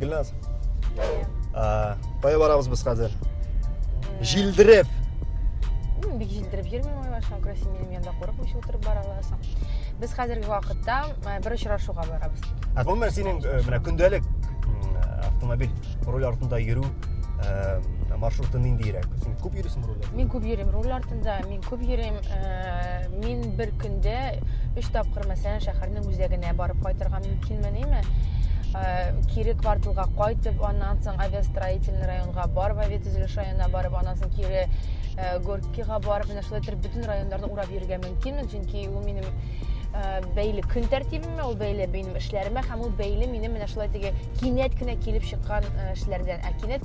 Гүлназ. А, кая барабыз без хәзер? Җилдереп. Мин бик җилдереп йөрмим, Айваша, Красин минем янда курыкмыйча утырып бара аласың. Без хәзерге вакытта э, бер очрашуга барабыз. Ә гомер синең э, менә көндәлек автомобиль руль артында йөрү э, маршруты ниндирәк? Син күп йөрисең руль артында? Мин күп йөрим руль артында, мин Күп йөрим. Э, мин бер көндә өч тапкыр мәсәлән шәһәрнең үзәгенә барып кайтырга мөмкинмениме? Э, кире кварталга кайтып, аннан соң авиастроительный районга барып, авиатөзелеш районына барып, аннан соң кире э, Горкига барып, менә шулай итеп бөтен районнарны урап йөрергә мөмкинмен, чөнки ул минем бәйле көн тәртибемә, ул бәйле минем эшләремә һәм ул бәйле минем менә шулай теге кинәт кенә килеп чыккан эшләрдән. Ә кинәт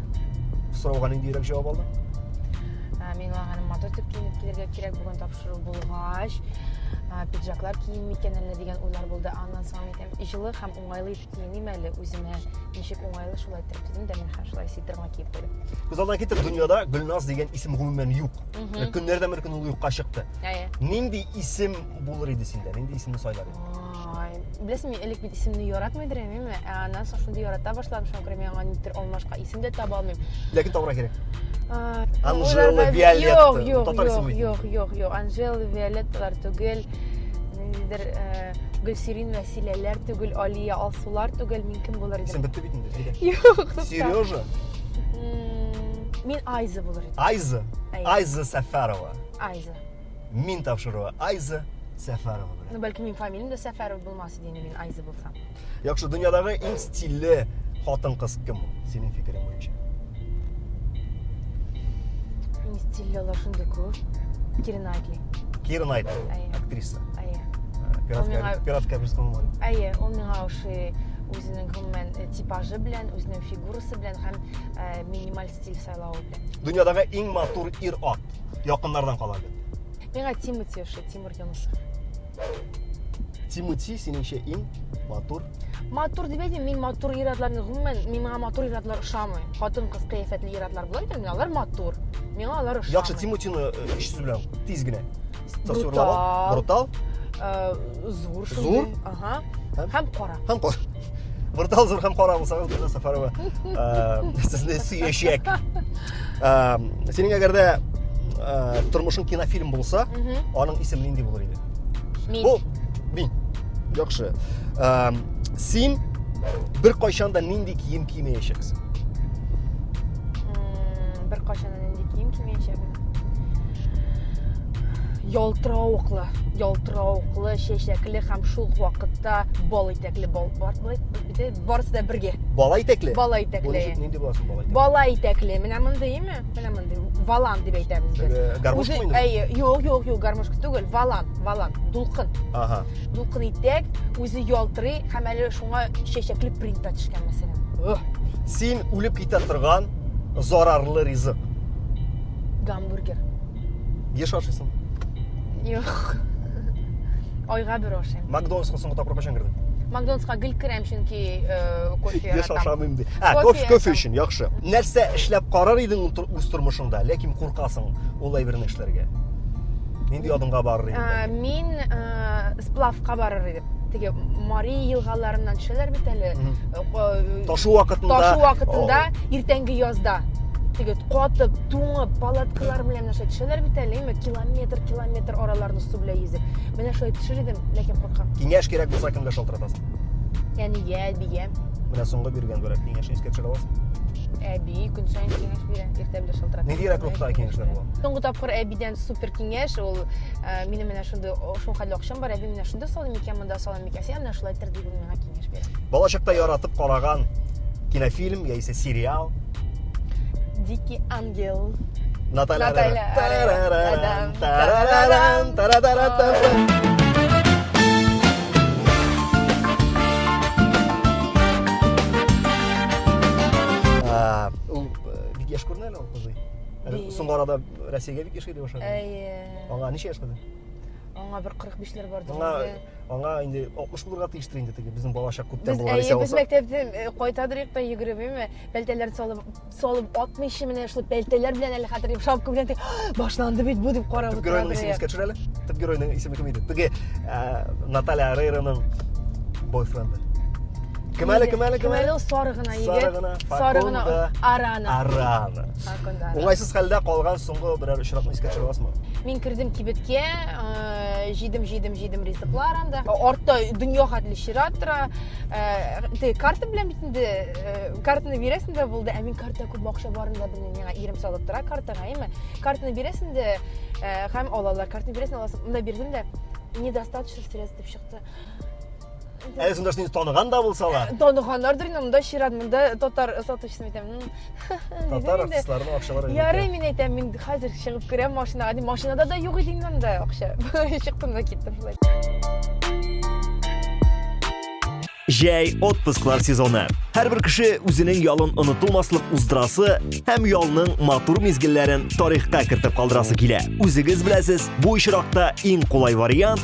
сорауга ниндирәк җавап алдың миңа аны матур итеп киенеп килергә кирәк бүген тапшыру булгач пиджаклар кием микән әллә дигән уйлар булды аннан соң әйтәм җылы һәм уңайлы итеп киеним әле үземә ничек уңайлы шулай итеп дидем дә мин һәм шулай свитерыма киеп куйдым күз алдына китер дөньяда гөлназ дигән исем гомумән юк көннәрдән бер көн ул юкка чыкты нинди исем булыр иде синдә нинди исемне сайлар идең Ай, беләсең, мин элек бит исемне яратмый идем, әмма ә аннан соң шундый ярата башладым, шуңа күрә миңа нидер алмашка исем дә таба алмыйм. Ләкин табарга кирәк. А, Анжела, уйларга- Виолетта. Юк, юк, Татар юк, исеме юк, юк, юк. Анжела, Виолетталар түгел. Ниндидер э, Гөлсирин, Вәсиләләр түгел, Алия, Алсулар түгел. Мин кем булыр Исем идем? бетте бит инде. Әйдә. Юк, тукта. Сережа, М, Мин Айза булыр идем. Айза, Әйе, Айза Сәфәрова. Айза. мин тапшыруы Айза Сәфәрова белән. Ну, бәлки мин фамилиям дә Сәфәров булмас иде, мин Айза булсам. Яхшы, дөньядагы иң стильле хатын-кыз кем ул, синең фикерең буенча? Иң стильле алар шундый күп. Кира Найтли. Кира Найтли, актриса. Әйе. Пиратка, пиратка бирс кылмый. Әйе, ул миңа ошый үзенең гомумән э, типажы белән, үзенең фигурасы белән һәм э, минималь стиль сайлавы белән. Дөньядагы иң матур ир-ат. Якыннардан кала бит. Миңа Тимати ошый, Тимур Юнусов. Тимати синеңчә иң матур. Матур дип әйтмим, мин матур ир-атларны гомумән, миңа матур ир-атлар ошамый. Хатын-кыз кыяфәтле ир-атлар була икән, миңа алар матур. Миңа алар ошамый. Яхшы, Тиматины өч сүз белән тиз генә. Брутал. Брутал. Э, зур шундый. Зур. Ага. Һәм кара. Һәм кара. Брутал зур һәм кара булсагыз, Гөлназ Сафарова, э, сезне сөячәк. Э, синең әгәр дә тормышың кинофильм булса, аның исеме нинди булыр иде? Мин. Бу мин. Яхшы. Син бер кайчан да нинди кием кимәячәксең? Бер кайчан да нинди кием кимәячәкмен? ялтыравыклы ялтыравыклы чәчәкле һәм шул вакытта бал итәкле бал бар барысы да бергә бала итәкле бала итәкле нинди буласын бала итәкле бала итәкле менә мондыймы менә мондый валан дип әйтәбез без э, гармошка инде әйе юк юк юк гармошка түгел валан валан дулкын ага дулкын итәк үзе ялтырый һәм әле шуңа чәчәкле принта төшкән мәсәлән син үлеп китә торган Зарарлы ризык. Гамбургер. Еш ашыйсың? Юк. Айга бер ашыйм. Макдональдска соңгы тапкыр кайчан кердең? Макдональдска гел керәм, чөнки э, кофе яратам. Еш ашамыйм ди. Ә, кофе, кофе өчен яхшы. Нәрсә эшләп карар идең үз тормышыңда, ләкин куркасың ул әйберне эшләргә? Нинди адымга барыр идең? Мин э, сплавка барыр идем. теге Мари елгаларыннан төшәләр бит әле. Э, ташу вакытында. Ташу вакытында иртәнге язда теге катып, туңып, палаткалар белән нәрсә төшәләр бит әле, имә километр, километр араларны су белән йөзеп. Менә шулай төшер идем, ләкин куркам. Киңәш кирәк булса кемгә шалтыратасың? Әнигә, әбигә. Менә соңгы биргән бер киңәш искә төшерә аласың? әби көн сайын киңәш бирә иртә белән шалтырата нинди рәкләп киңәшләр була соңгы тапкыр әбидән супер киңәш ул э, минем менә шундый шул хәлле акчам кара, мин менә шунда салыйм микән, монда салыйм микән, син ана шулай итер дип ул миңа киңәш бирә. Балачакта яратып караган кинофильм яисә сериал. Дикий ангел. Наталья. Наталья. Тарарам, тарарам, тарарам. Яшь күренә әле ул кызый. Әле соңгы арада Россиягә бик еш килеп ошады. Әйе. Аңа ничә яшь кызы? Аңа бер 45 ләр бардыр. Аңа аңа инде 60 булырга тиештер инде теге безнең балачак күптән булган исә булса. Без мәктәптән э, кайтадырык та йөгермиме? Пәлтәләр салып салып атмыйчы менә шул пәлтәләр белән әле хәтер дип шапка белән башланды бит бу дип карап утырды. Геройның исемен искә төшерәле. Төп геройның исеме кем иде? Теге э, Наталья Рейраның бойфренды. Кем әле, кем әле, кем әле? Кем әле сары гына егет? Сары гына, сары гына Арана. Арана. Уңайсыз хәлдә калган соңгы берәр очракны искә төшерә аласызмы? Мин кердем кибеткә, э, җидем, җидем, җидем ризыклар анда. Артта дөнья хәтле чират тора. Э, Ты карта белән бит инде э, картаны бирәсең дә булды, ә мин карта күп акча барын да белмим. Миңа ирем салып тора картага, әйме? Картаны бирәсең дә э, һәм алалар. Картаны бирәсең, аласың. Монда бирдем дә недостаточно средств дип чыкты. Әле сонда сине таныган да булсалар. Э, Таныганнардыр инде, монда чират, монда татар сатучысын әйтәм. Татар артистларының акчалары. Ярый, мин әйтәм, мин хәзер чыгып керәм машинага, ди, машинада да юк иде монда акча. Чыктым да киттем шулай. Җәй отпусклар сезоны. Һәрбер кеше үзенең ялын онытылмаслык уздырасы һәм ялның матур мизгелләрен тарихка кертеп калдырасы килә. Үзегез беләсез, бу очракта иң кулай вариант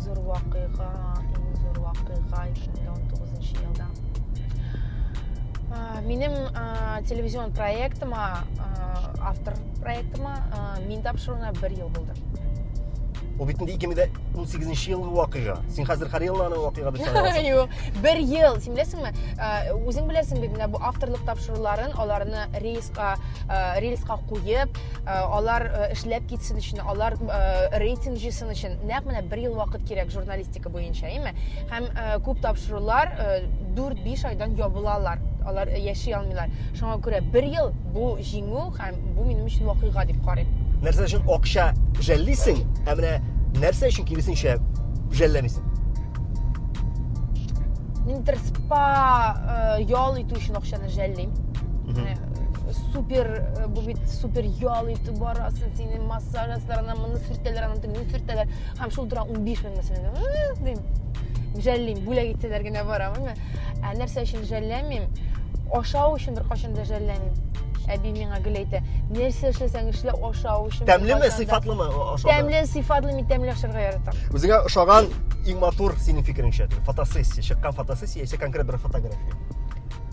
зур вакыйга, иң зур вакыйга 2019 елда. Минем телевизион проектыма, автор проектыма мин тапшыруына бер ел булды. Ул бит инде 2018 елгы вакыйга. Син хәзер Карелла аның вакыйга дип саныйсың. Юк, бер ел. Син беләсеңме? Үзең беләсең бит менә бу авторлык тапшыруларын, аларны рейска, рельска куеп, Э, алар э, эшләп китсен өчен алар э, рейтинг җыйсын өчен нәкъ менә бер ел вакыт кирәк журналистика буенча әйме һәм күп тапшырулар дүрт биш айдан ябылалар алар яши алмыйлар шуңа күрә бер ел бу җиңү һәм бу минем өчен вакыйга дип карыйм нәрсә өчен акча жәллисең һәм менә нәрсә өчен киресенчә жәлләмисең мин тырыспа ял итү өчен акчаны жәллим супер э, бу бит супер ял итеп барасың сине массаж ясыйлар анан моны сөртәләр анан тегене сөртәләр һәм шул тора ун биш мең мәсәлән дим жәллим бүләк итсәләр генә барамын ә нәрсә өчен жәлләмим ашау өчен беркайчан да жәлләмим әби миңа гел әйтә нәрсә эшләсәң эшлә ашау өчен тәмлеме сыйфатлымы ашау тәмле сыйфатлы мин тәмле ашарга яратам үзеңә ошаган иң матур синең фикереңчә фотосессия чыккан фотосессия яисә конкрет бер фотография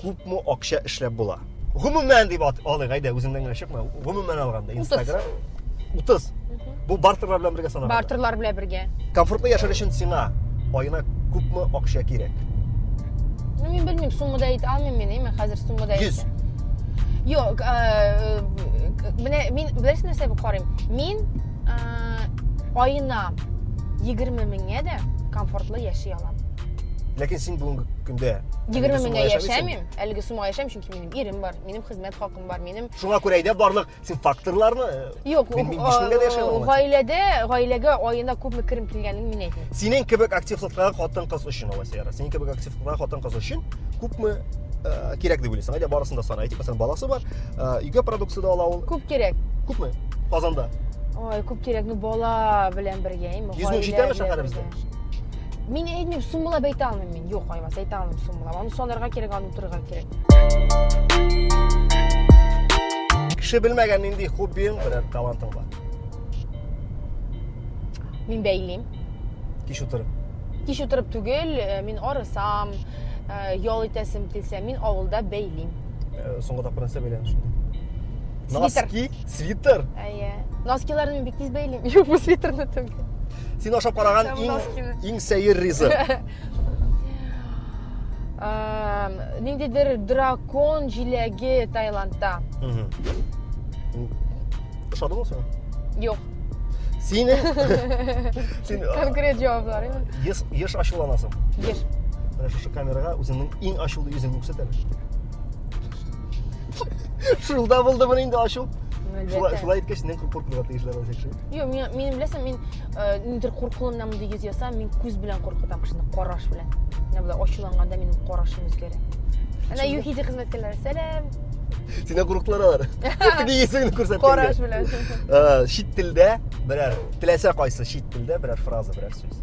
Күпме акча эшләп була? Гомумән дип алыйк, әйдә, үзеңнән генә чыкма. Гомумән алганда, Instagram 30. Бу бартерлар белән бергә санала. Бартерлар белән бергә. Комфортлы яшәр өчен сиңа аена күпме акча кирәк? Ну, мин белмим, суммада әйтә алмыйм мин, әйме, хәзер суммада әйтә. 100. Юк, э, э, менә мин беләсең нәрсә бу карыйм? Мин э, аена 20 меңгә дә комфортлы яши алам. ләкин син бүгенге көндә егерме меңгә яшәмим әлеге суммага яшәмим чөнки минем ирем бар минем хезмәт хакым бар минем шуңа күрә әйдә барлык син факторларны юк гаиләдә гаиләгә аена күпме керем килгәнен мин әйтмим синең кебек активлыкта хатын кыз өчен алла сәяра синең кебек активлыкта хатын кыз өчен күпме э, кирәк дип уйлыйсың әйдә барысын да сана әйтик мәсәлән баласы бар э, өйгә продукция да ала ул күп кирәк күпме казанда ой күп кирәк ну бала белән бергә йөз мең җитәме шәһәребездә Мин әйтмим, суммалап әйтә алмыйм мин. Юк, Айваз, әйтә алмыйм суммалап. Аны санарга кирәк, аны утырырга кирәк. Кеше белмәгән нинди хоббиң, берәр талантың бар. Мин бәйлим. Кич утырып. Кич утырып түгел, э, мин арысам, э, ял итәсем килсә, мин авылда бәйлим. Э, соңгы тапкыр нәрсә бәйләдең шунда? Свитер. Носки, свитер. Әйе. Носкиларны мин бик тиз бәйлим. Юк, бу свитерны түгел. Син ашап караган иң иң сәер ризык. Ниндидер дракон җиләге Таиландта. Ошадымы сиңа? Юк. Сине Син конкрет җаваплар. Еш еш ачуланасың. Еш. Менә шушы камерага үзеңнең иң ачулы йөзеңне күрсәт әле. Шулда булдымы инде ачу? Шулай шулай иткәч, синнән куркырга тиешләр ул Юк, мин, мин беләсең, мин э, нидер куркуымнан мондый йөз ясам, мин күз белән куркытам кешене, караш белән. Менә болай ачуланганда минем карашым үзгәрә. Әнә ЮХИДИ хезмәткәрләре, сәлам. Синә курыктылар алар. Теге исеңне күрсәткәнгә. Караш белән. Э, Чит телдә берәр теләсә кайсы чит телдә берәр фраза, берәр сүз.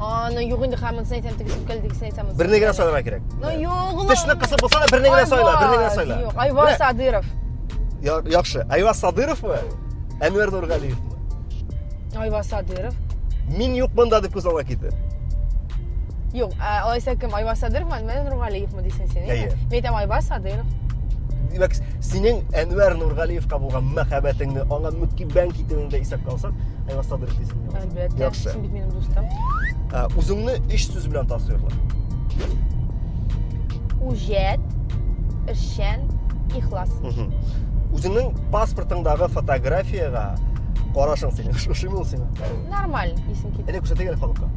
Аны юк инде хамынсын әйтәм, тегесен кел, тегесен әйтәм. Берне генә сайларга кирәк. Ну юк. Тешне кысып булса да берне генә сайла, берне генә сайла. Юк, Айваз Садыров. Яхшы, Айваз Садыровмы? Әнвәр Нургалиевмы? Айваз Садыров. Мин юк монда дип күз алга китте. Юк, алайса кем? Айваз Садыровмы, Әнвәр Нургалиевмы дисең син? Әйе. Мин әйтәм Айваз Садыров. Димәк, синең Әнвәр Нургалиевка булган мәхәббәтеңне, аңа мөкиббән китүеңне исәпкә алсак, Айваз Садыров дисең. Әлбәттә. Яхшы. Бит минем дустым. Ә, Үзеңне өч сүз белән тасвирла. Үҗәт, эшчән, ихлас. Мгм. Үзеңнең паспортыңдагы фотографиягә карашың синең. Ш- Ошыймы ул сиңа? Нормаль исем кит. Әле күрсәтә генә халыкка.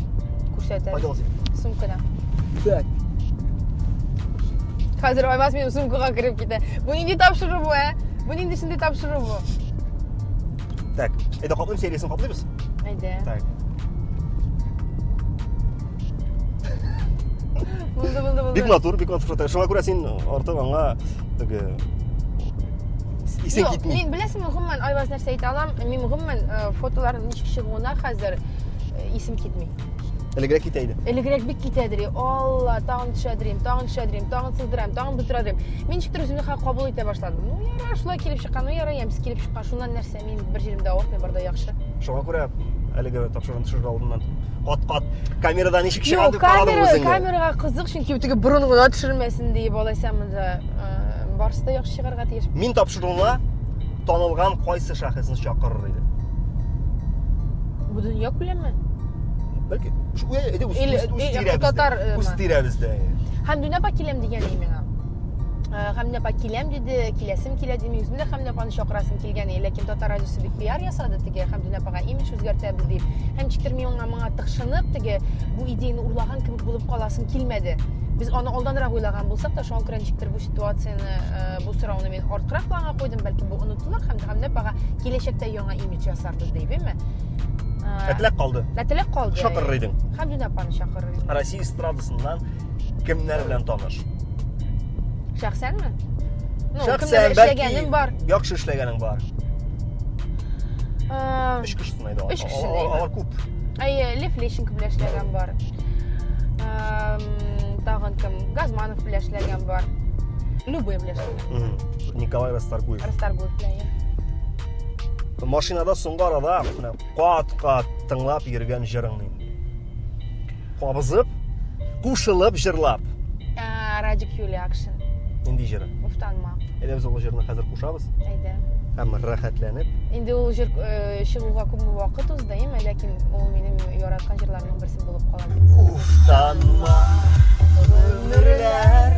Күрсәтә. Кайда ул синең? Сумкада. Так. Хәзер Аймаз минем сумкага кереп китә. Бу нинди тапшыру бу, ә? Бу нинди шундый тапшыру бу? Так, әйдә каплыйм сериясен каплыйбыз. Әйдә. Так. Булды, булды, булды. Бик матур, бик матур фото. Шуңа күрә син артык аңа теге исең китми. Мин беләсеңме, гомумән Айваз нәрсә әйтә алам? Мин гомумән э, фотоларның ничек чыгуына хәзер э, исем китми. Элегрәк китә иде. Элегрәк бик китә дери. Алла, тагын төшә дерим, тагын төшә дерим, тагын сыздырам, тагын бөтерә дерим. Мин ничектер үземне хәл кабул итә башладым. Ну, яра, шулай килеп чыккан, ну, яра, ямьсез килеп чыккан. Шуннан нәрсә, мин бер җиремдә авыртмый, бар да яхшы. Шуңа күрә әлеге тапшыруны төшерер алдыннан кат-кат камерадан ничек чыгар дип карадың үзеңне. Камерага кызык, чөнки теге борын гына төшермәсен диеп алайса монда барысы да яхшы чыгарга тиеш. Мин Шуңа танылган кайсы шәхесне чакырыр иде? Бөтен як беләнме? Бәлки, әйдә үз тирәбездә. Татар. Үз тирәбездә. Һәм дүнә апа киләм дигән иде миңа. Э, Хәмдә апа киләм диде, киләсем килә диде. Үзем дә Хәмдә апаны чакырасым килгән иде, ләкин татар радиосы бик пиар ясады теге Хәмдүнә апага имидж үзгәртәбез дип. Һәм ничектер мин аңа моңа тыкшынып теге бу идеяны урлаган кебек булып каласым килмәде. Без аны алданрак уйлаган булсак та, шуңа күрә ничектер бу ситуацияне э, Бу сорауны мин арткырак планга куйдым, бәлки бу онытылыр һәм Дәһәмнәп ага киләчәктә яңа имидж ясарбыз дибеме? Ә теләк калды. Ә теләк калды. Чакырыр идең. Хәмдүнә апаны чакырыр идең. Россия эстрадасыннан кемнәр белән таныш? Шәхсәнме? Ну, Шәхсән, бәлки, бар. Яхшы эшләгәнең бар. Ә... Өч кешесен Өч кеше дә. Алар күп. Әйе, Лев Лещенко белән эшләгән бар. Тагын кем? Газманов белән эшләгән бар. Любой белән эшләгән. Николай Расторгуев. Расторгуев белән. Машинада соңгы арада кат-кат тыңлап йөргән җырыңны кабызып кушылып җырлап ә, радик юлия акшин нинди җыры уф танма әйдә без ул җырны хәзер кушабыз әйдә һәм рәхәтләнеп инде ул җыр э, чыгуга күп вакыт узды әйеме ләкин ул минем яраткан җырларымның берсе булып кала уф танма гомерләр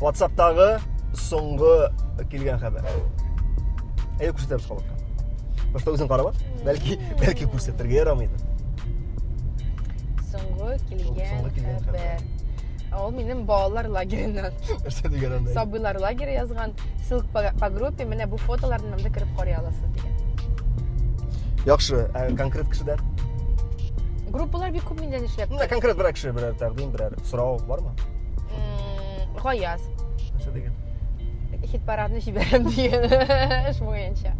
WhatsApp'тагы соңгы килгән хәбәр. Әйе, күрсәтәбез халык. Просто үзең карап бәлки бәлки күрсәтергә ярамыйды. Соңгы килгән хәбәр. Ул минем балалар лагереннән. Нәрсә дигән анда? Сабыйлар лагере язган. Ссылка по группе, менә бу фотоларны монда кереп карый аласыз дигән. Яхшы, ә конкрет кешедән? Группалар бик күп миндә эшләп. Менә конкрет берәр кеше берәр тәкъдим, берәр сорау бармы? Гаяз. нәрсә дигән хит парадны җибәрәм дигән эш буенча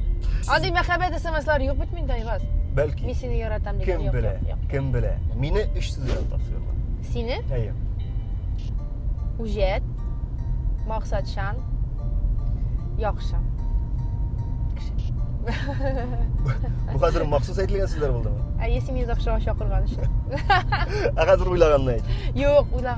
андый мәхәббәт смслар юк бит миндә айваз бәлки мин сине яратам дигән кем белә кем белә мине өч сүз белән тасвирлар сине әйе үҗәт максатчан яхшы бу хәзер махсус әйтелгән сүзләр булдымы әйе син мине завтрага чакырган өчен ә хәзер уйлаганны әйт юк уйлаган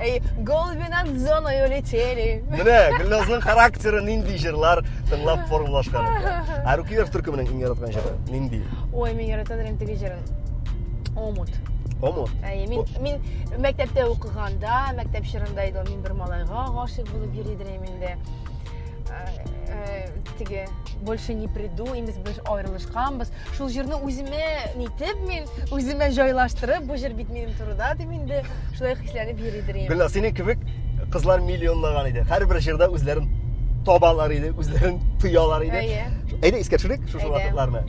Әй, голуби над зоною летели. Менә Гөлназның характеры нинди җырлар тыңлап формалашкан икән. Ә Рукиев төркеменең иң яраткан җыры нинди? Ой, мин яратам инде теге җырын. Омут. Омут. Әй, мин мин мәктәптә укыганда, мәктәп чорында иде, мин бер малайга гашыйк булып йөри идем инде. Э, э, теге больше не приду, имез без аерылышканбыз. шул җырны үземә нитеп мин үземә җайлаштырып бу җыр бит минем турыда дип инде шулай хисләнеп йөри дөрим гөлнар синең кебек кызлар миллионлаган иде һәрбер җырда үзләрен табалар иде үзләрен тоялар иде әйдә искә төшерик шушы вакытларны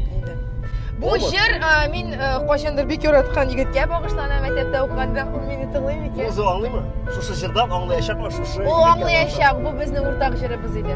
бу җыр мин кайчандыр бик яраткан егеткә багышлана мәктәптә укыганда ул мине тыңлый микән ул аңлыймы шушы җырдан аңлаячакмы шушы ул аңлаячак бу безнең уртак җырыбыз иде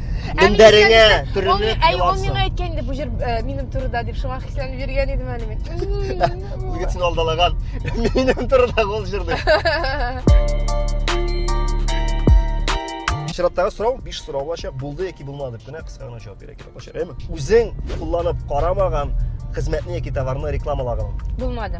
Мендәреңә төренеп Әй, ул еларсың. миңа әйткән инде бу җыр э, минем турыда дип шуңа хисләнеп йөргән идем әле мин. Егет син алдалаган. Минем турыда гол җырды. Чираттагы сорау 5 сорау булачак. Булды яки булмады дип кенә кыска гына җавап бирә кирәк булачак. Әмма үзең кулланып карамаган хезмәтне яки товарны рекламалаган. Булмады.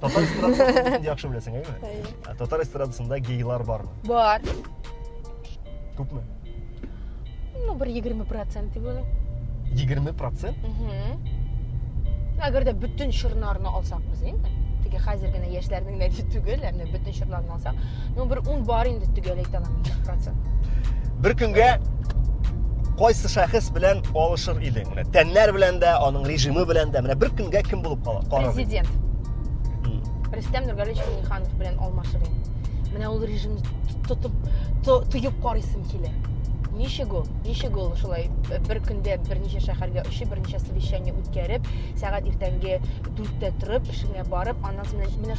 Татар эстрадасын яхшы беләсең, әйеме? Әйе. Ә татар эстрадасында гейлар бармы? Бар. Күпме? Ну, бер 20% дип уйлыйм. 20%? Угу. Әгәр дә бөтен чырларны алсак без инде, теге хәзер генә яшьләрнең нәти түгел, ә менә бөтен чырларны булса. Ну бер ун бар инде төгәл әйтә алмыйм 100%. Бер көнгә кайсы шәхес белән алышыр идең? Менә тәннәр белән дә, аның режимы белән дә. Менә бер көнгә кем булып кала? Президент. Рөстәм Нургалевич Миңнеханов белән алмашыр идем. Менә ул режимны тотып тоеп карыйсым килә. Ничек ул? Ничек ул шулай э, бер көндә берничә шәһәргә очып, берничә совещание үткәреп, сәгать иртәнге 4-тә торып, эшеңә барып, аннан соң менә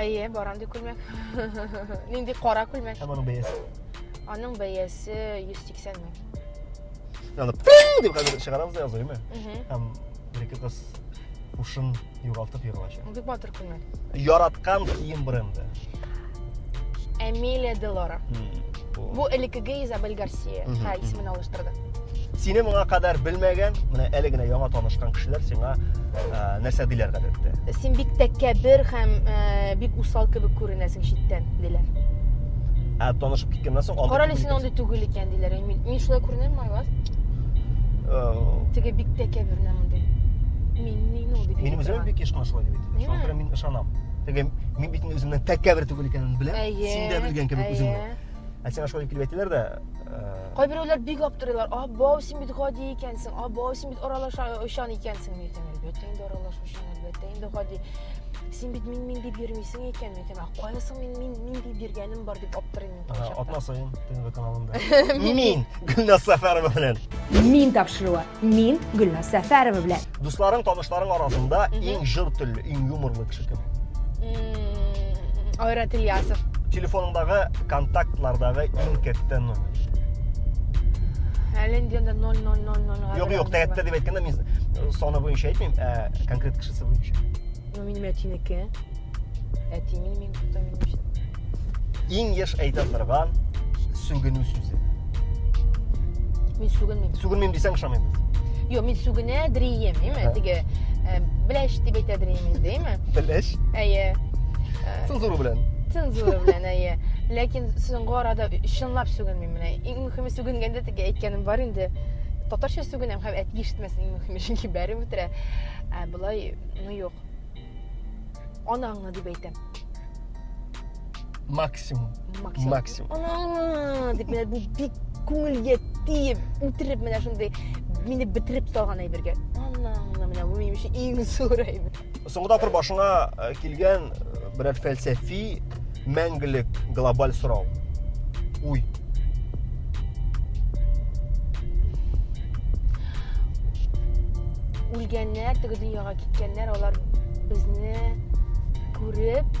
әйе бар андый күлмәк нинди кара күлмәк һәм аның бәясе аның бәясе йөз сиксән мең аны деп хәзер чыгарабыз да языймы һәм бер ике кыз ушын югалтып егылачак бик батыр күлмәк яраткан кием бренды Эмилия Делора. Бу элекеге Изабель Гарсия. Ха, исемен алыштырды. Сине моңа кадәр белмәгән, менә әле генә яңа танышкан кешеләр сиңа нәрсә диләр гадәттә? Син бик тәкәбер һәм бик усал кебек күренәсең читтән, диләр. Ә танышып киткәннән соң андый Карале син андый түгел икән, диләр. Мин шулай күренәм, Майлас. Теге бик тәкәбер менә мондый. Мин мин ул дип. Мин үзем бик еш кына шулай дип әйтәм. Шуңа күрә мин ышанам. Теге мин бит үземнең тәкәбер түгел икәнен беләм. Син дә белгән кебек үзеңне. Ә сиңа шулай килеп әйтәләр дә. Кайберәүләр бик аптырыйлар. А, бау, син бит гади икәнсең. А, бау, син бит аралаша очан икәнсең. Мин әйтәм, әлбәттә инде аралашучан, әлбәттә инде гади. Син бит мин мин дип йөрмисең икән, мин әйтәм, а кайсың мин мин мин дип йөргәнем бар дип аптырыйм. Ага, атна саен ТНВ каналында. Мин Гөлназ Сәфәрова белән. Мин тапшыруы. Мин Гөлназ Сәфәрова белән. Дусларың, танышларың арасында иң жыр телле, иң юморлы кеше кем? Айрат Ильясов. Телефоныңдагы контактлардагы иң кәттә номер. Әле инде 0000. Юк, юк, тәгәттә дип әйткәндә мин саны буенча әйтмим, ә конкрет кешесе буенча. Ну, минем әтинеке. Әтимен мин көтә минем өчен. Иң еш әйтә торган сүгенү сүзе. Мин сүгенмим. Сүгенмим дисәң ышанмыйбыз. Йо, мин сүгенә дрием, яме, теге э, беләш дип әйтә дрием инде, яме. Беләш? Әйе. Э, цензура белән. Цензура белән, әйе. Ләкин соңгы арада чынлап сүгенмим менә. Иң мөхиме сүгенгәндә теге әйткәнем бар инде. Татарча сүгенәм һәм әти ишетмәсен иң мөхиме, чөнки бәреп үтерә. Ә болай, ну юк. Анаңны дип әйтәм. Максимум. Максимум. Максимум. Анаңны дип менә бу бик күңелгә тиеп, үтереп менә шундый мине бетереп салган әйбергә. Анаңны менә бу минем өчен иң зур әйбер. Соңгы тапкыр башыңа э, килгән э, берәр фәлсәфи мәңгелек глобаль сорау. Уй. Үлгәннәр, теге дөньяга киткәннәр, алар безне күреп,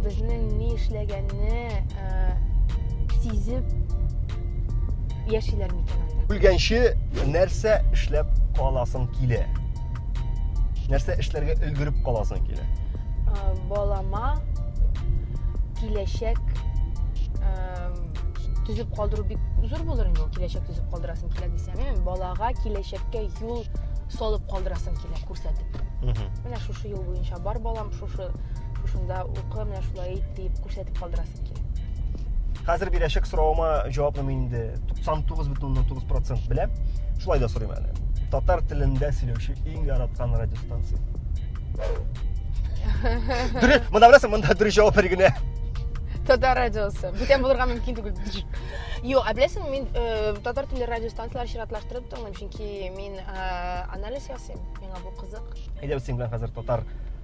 безнең ни эшләгәнне э, сизеп яшиләр микән анда? Үлгәнче нәрсә эшләп каласың килә? Нәрсә эшләргә өлгереп каласың килә? Балама киләчәк төзеп калдыру бик зур булыр инде киләчәк төзеп калдырасың килә дисәң ә балага киләчәккә юл салып калдырасың килә күрсәтеп менә шушы юл буенча бар балам шушы шушында укы менә шулай ит дип күрсәтеп дип калдырасым килә. Хәзер бирәчәк соравыма җавапны мин инде 99,9% беләм. Шулай да сорыйм әле. Татар телендә сөйләүче иң яраткан радиостанция. Дүре, монда беләсең, монда дүре җавап бер генә. Татар радиосы. Бүтән булырга мөмкин түгел. Юк, ә беләсең, мин э, татар телле радиостанцияләр чиратлаштырып тыңлыйм, чөнки мин э, анализ ясыйм. Миңа бу кызык. Әйдә без синең белән хәзер татар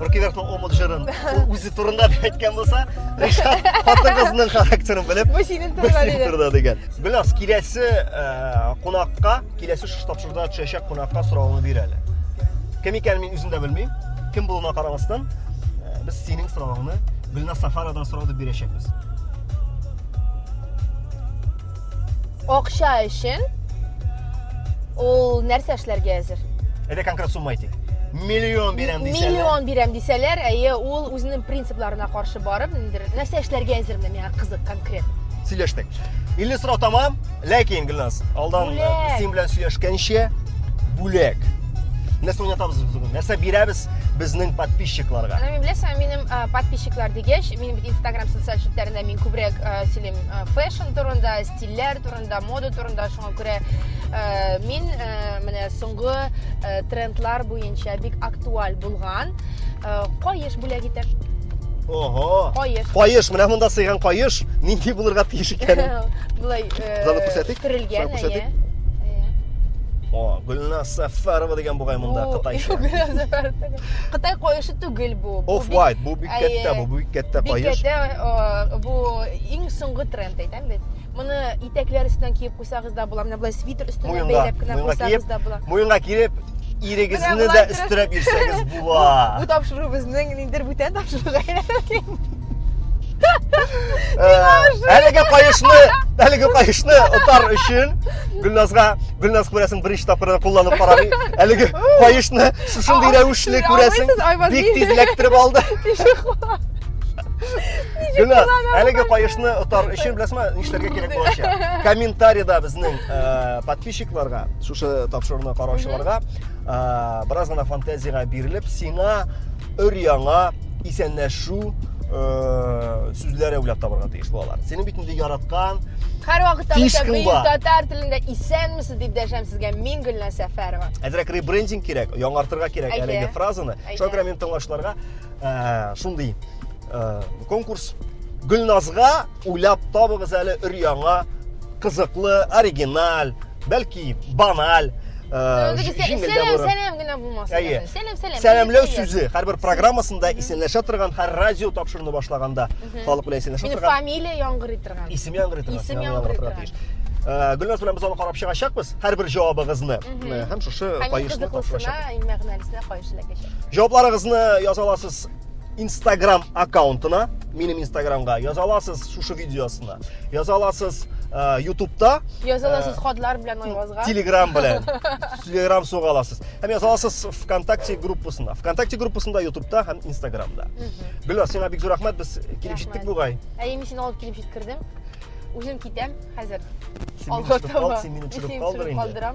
Рокеверхның омут җырын үзе турында дип әйткән булса, Ришат хатын кызның характерын белеп, бу синең турында диде. турында дигән. Беләс, киләсе э, кунакка, киләсе шушы тапшыруда төшәчәк кунакка соравыңны бир әле. Кем икәнен мин үзем дә белмим. Кем булуына карамастан, э, без синең соравыңны Гөлназ Сафаровадан сорауды бирәчәкбез. Акча өчен ул нәрсә эшләргә әзер? Әйдә конкрет сумма әйтик. Миллион бирәм дисәләр. Миллион бирәм дисәләр, әйе, ул үзенең принципларына каршы барып, ниндер нәрсә эшләргә әзер менә миңа кызык конкрет. Сөйләштек. 50 сорау тамам, ләкин Гөлназ, алдан э, син белән сөйләшкәнче бүләк. Нәрсә уйнатабыз без бүген? Нәрсә бирәбез безнең подписчикларга? Менә мин беләсең, минем э, подписчиклар дигәч, минем бит Instagram социаль челтәрендә мин күбрәк э, сөйлим фэш турында, стильләр турында, мода турында шуңа күрә э, мин э, менә соңгы э, трендлар буенча бик актуаль булган э, каеш бүләк итәм. Ого! Каеш. Каеш, менә монда сыйган каеш, нинди булырга тиеш икәнен. Булай э, Залы күрсәтик? Төрелгән, Шулай күрсәтик? әйе. О, Гөлназ Сәфәрова дигән бугай монда Бу- кытайча. Гөлназ Сәфәров түгел. Кытай каешы гел бу. бу Off бик- white, бу бик Әйе. кәттә, бу бик кәттә Бик каеш. кәттә, э, бу иң соңгы тренд әйтәм бит. Моны итәкләр өстенә киеп куйсагыз да була, менә болай свитер өстенә Муенга, бәйләп кенә муенга куйсагыз киеп. да була. Муенга киеп, ирегезне Менә дә болай торып- өстерәп йөрсәгез була. Бу тапшыру безнең ниндер бүтән тапшыруга әйләнә. Әлеге каешны, әлеге каешны отар өчен Гөлназга, Гөлназ күрәсең беренче тапкырда кулланып карамый. Әлеге каешны шушындый рәвешле күрәсең, бик тиз эләктереп алды. Гүнә, әлеге кайышны отар өчен беләсме, нишләргә кирәк булачак? Комментариядә безнең э, подписчикларга, шушы тапшыруны караучыларга э, бераз гына фантазиягә бирелеп, сиңа өр яңа исәнләшү э, сүзләре уйлап табарга тиеш балалар. Синең бит инде яраткан Һәр вакытта Киш бөтен кылба. бөек татар телендә исәнмесез дип дәшәм сезгә. Мин Гөлнә Сәфәрова. Әзрәк ребрендинг кирәк, яңартырга кирәк Әйе. әлеге фразаны. Әйе. Шуңа күрә минем тыңлаучыларга э, шундый э, конкурс Гөлназга уйлап табыгыз әле өр-яңа кызыклы, оригиналь, бәлки баналь җиңелдә сәлам генә булмаса әйе сәлам сәлам сәламләү сүзе һәрбер программасында исәнләшә торган һәр радио тапшыруны башлаганда халык белән исәнләшә торган фамилия яңгырый торган исем яңгырый торган исем яңгырый торган гөлназ белән без аны карап чыгачакбыз һәрбер җавабыгызны һәм шушы каешны тапшырачакбыз иң мәгънәлесенә каеш эләкәчәк җавапларыгызны яза аласыз инстаграм аккаунтына минем инстаграмга яза аласыз шушы видеосына Яза аласыз э, ютубта яза аласыз э, хатлар белән айвазга телеграм белән телеграм суга аласыз һәм яза аласыз вконтакте группасына вконтакте группасында ютубта һәм инстаграмда гөлназ сиңа бик зур рәхмәт без килеп җиттек бугай әйе мин сине алып килеп җиткердем үзем китәм хәзер алга таба син мине төшереп калдыр инде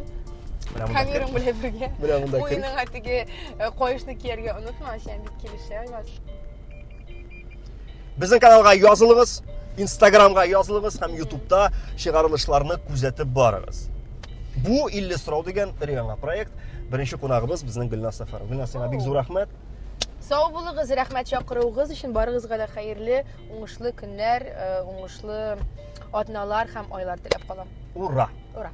Камерам белән бергә. Менә монда кер. Уйның атыгы э, коешны кияргә онытма, син бит килешә, Айваз. Безнең каналга язылыгыз, Инстаграмга язылыгыз һәм Ютубта чыгарылышларны күзәтеп барыгыз. Бу 50 сорау дигән өр-яңа проект. Беренче кунагыбыз безнең Гөлназ Сәфәрова. Гөлназ, сиңа бик зур рәхмәт. Сау булыгыз, рәхмәт чакыруыгыз өчен. Барыгызга да хәерле, уңышлы көннәр, э, уңышлы атналар һәм айлар теләп калам. Ура! Ура!